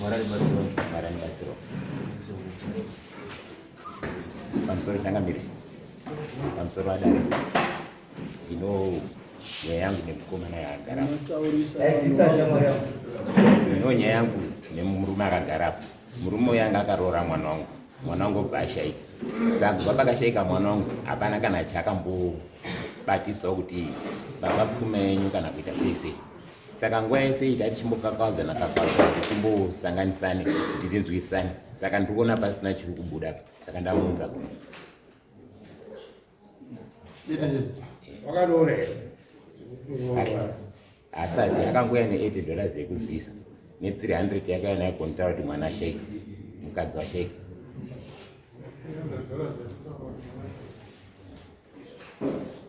Mwarari batsiro. Mwarari batsiro. Pamusoro changamire. Pamusoro adare. Ndino nyaya yangu nemukomana yaagara. Ndino nyaya yangu nemurume akagara apo. Murume uyu anga akaroora mwana wangu. Mwana wangu obva ashaika. Saka kubva pakashaika mwana wangu hapana kana chakambobatiswa kuti baba pfuma yenyu kana kuita sei sei. saka nguva yese iyi tai tichimbokakawadzana kakawadzana tichimbosanganisane kuti tinzwisane saka ndiri kuona pasina chiri kubuda saka ndamuunza ku wakadore asati akanguya ne80 dollars yekuzivisa ne300 yakaya nayo kontaura kuti mwana asheke mukadzi washeke Thank you.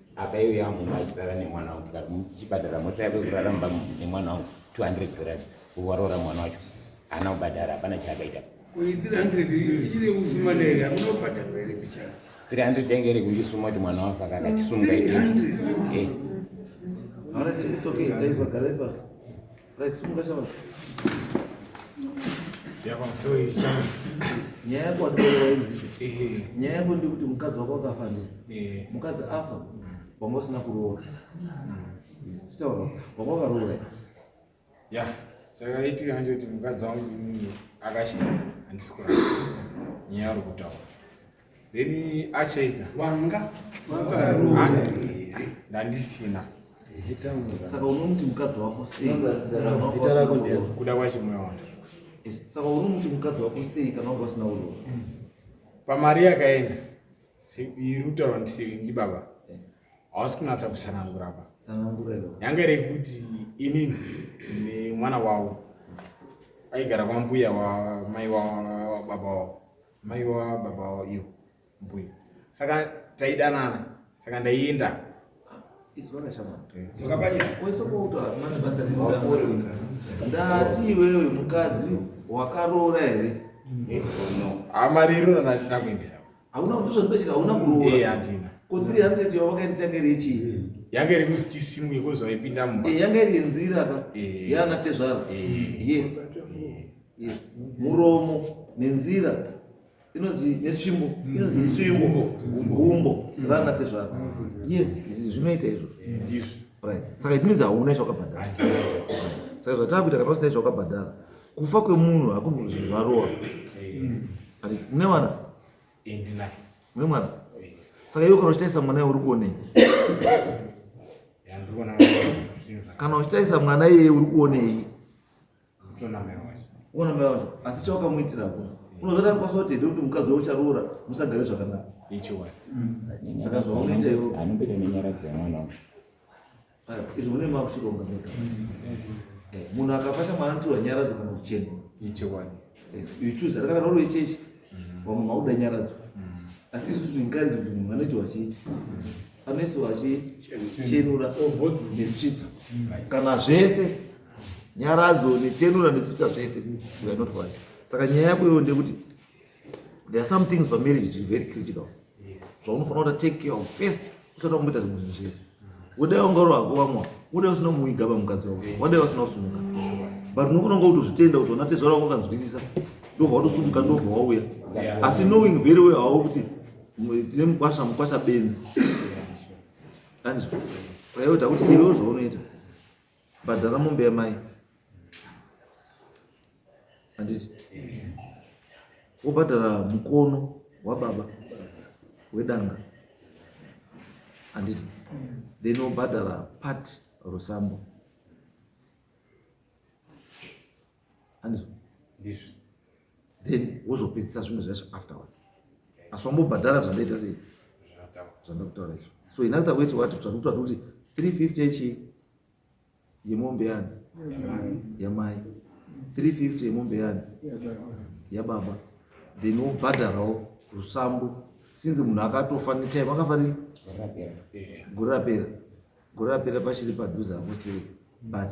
akaiuya mumba achirara nemwana wangu tikati muchibhadhara mota yako kurara mumba nemwana wangu 200 dollars kuvaroora mwana wacho haana kubhadhara hapana chaakaita 300 yange iri kundisuma kuti mwana wako akakachisunga eh. nyaya yako wandikuona wainzwisisa nyaya yako ndekuti mukadzi wako wakafa ndi mukadzi afa wanga usina kuroora chitaura wanga wakaroora ya saka itika hanzi kuti mukadzi wangu akashaya handisi kurara nyaya uri kutaura Then achaita wanga wakarowa here? Ndandisina. Zita mura. Saka unomuti mukadzi wako sei? Zita rako ndiyani? Kuda kwacho moyo wangu. Eh, saka unomuti mukadzi wako sei kana wanga usina kurowa? Pamari yakaenda. Iri kutaura ndi baba. Eh. Hausi kunatsa kutsanangura apa. Tsanangura iwe. Yanga iri kuti inini nemwana wavo aigara kwambuya wamai wavo baba wavo. mai wa baba wavo ivo mbuya saka taidanana saka ndaienda ndati iwewe mukadzi wakaroora here amariro ranasina kuendesa hauna kutozvandachira hauna kuroora handina ko 300 yawakaendesa ngerechii yanga iri kuti tisimwe kozvaipinda mumba eh, yanga iri yenzira ka eh. yana tezvara eh. yes Yes. Muromo nenzira inonzi netsvimbo mm. inonzi itsvimbo gumbo mm. rana tezvara mm. yes zvinoita izvo ndizvo right saka it means hauna izvawakabhadhara saka zvatakuita kana usina izvawakabhadhara kufa kwemunhu hakunhu zvinhu zvarowa ati mune mwana mune mwana saka iwe kana uchitarisa mwana iwe uri kuonei kana uchitarisa mwana iyeye uri kuonei ona mai wacho asi chawakamuitira ko unozotanga kwasa kuti hede kuti mukadzi waucharoora musagare zvakanaka saka zvaunoita iwo anombeta nenyaradzo yamwana wa izvi mune makuchironga mega eh, munhu akafasha mwana anotirwa nyaradzo kana kuchena you choose atakana roro yechechi mm. vamwe mauda nyaradzo mm. asi isusu inkaridi kuti munhu anoitiwa chechi anoisiwa chechenura netsvitsa kana zvese nyaradzo nechenura nezvita zvese we are not one saka nyaya yako iyoyo ndeyekuti there are some things pamarriage zviri very critical zvaunofanira kuta take care of first usati wakumboita zvimwe zvinhu zvese udai ungaro hako vamwa udai usina kumuigaba mukadzi wako wadai vasina kusumuka but unofanira kunga kutozvitenda kuti wanatezvara wako kanzwisisa ndobva watosumuka ndobva wauya asi knowing very well hawo kuti tine mukwasha mukwasha benzi anzwa saka iwe takuti iwewo zvaunoita bhadhara mombe yamai handiti wobhadhara mukono wababa wedanga handiti then wobhadhara part rosambo andizvo ndizvo then wozopedzisa zvimwe zvacho afterwards asi wambobhadhara zvandaita sei zvandakutaura izvo so in other words wati tatikuta kuti 350 echi yemombe yani yamai 350 yemombe yani yababa then wobhadharawo rusambo sinzi munhu akatofa nechayi vakafanira gore rapera gore rapera pachiri padhuze apostori but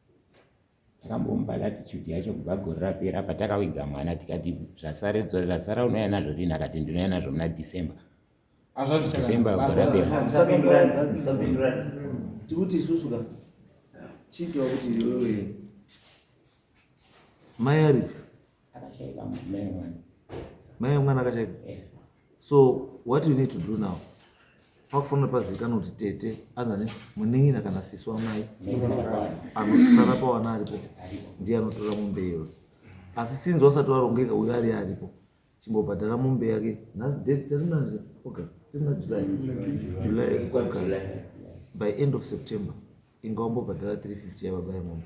takambomupa latitude yacho kubva gore rapera patakawiga mwana tikati zvasara unouya nazvo rini akati ndinouya nazvo muna december december gore raperatikuti isusu ka chiitwa kuti iwewe mayari akashaika mai mwana mai mwana akashaika eh. so what you need to do now pakufanira pazikana kuti tete anzani munin'ina kana sisi wamai anosara pawana aripo ndiye anotora mombe iyoyo asi sinzi wasati warongeka uyo ari aripo chimbobhadhara mombe yake nhasi date tarinanje august tina july july august by end of september inga wambobhadhara 350 yababa yemombe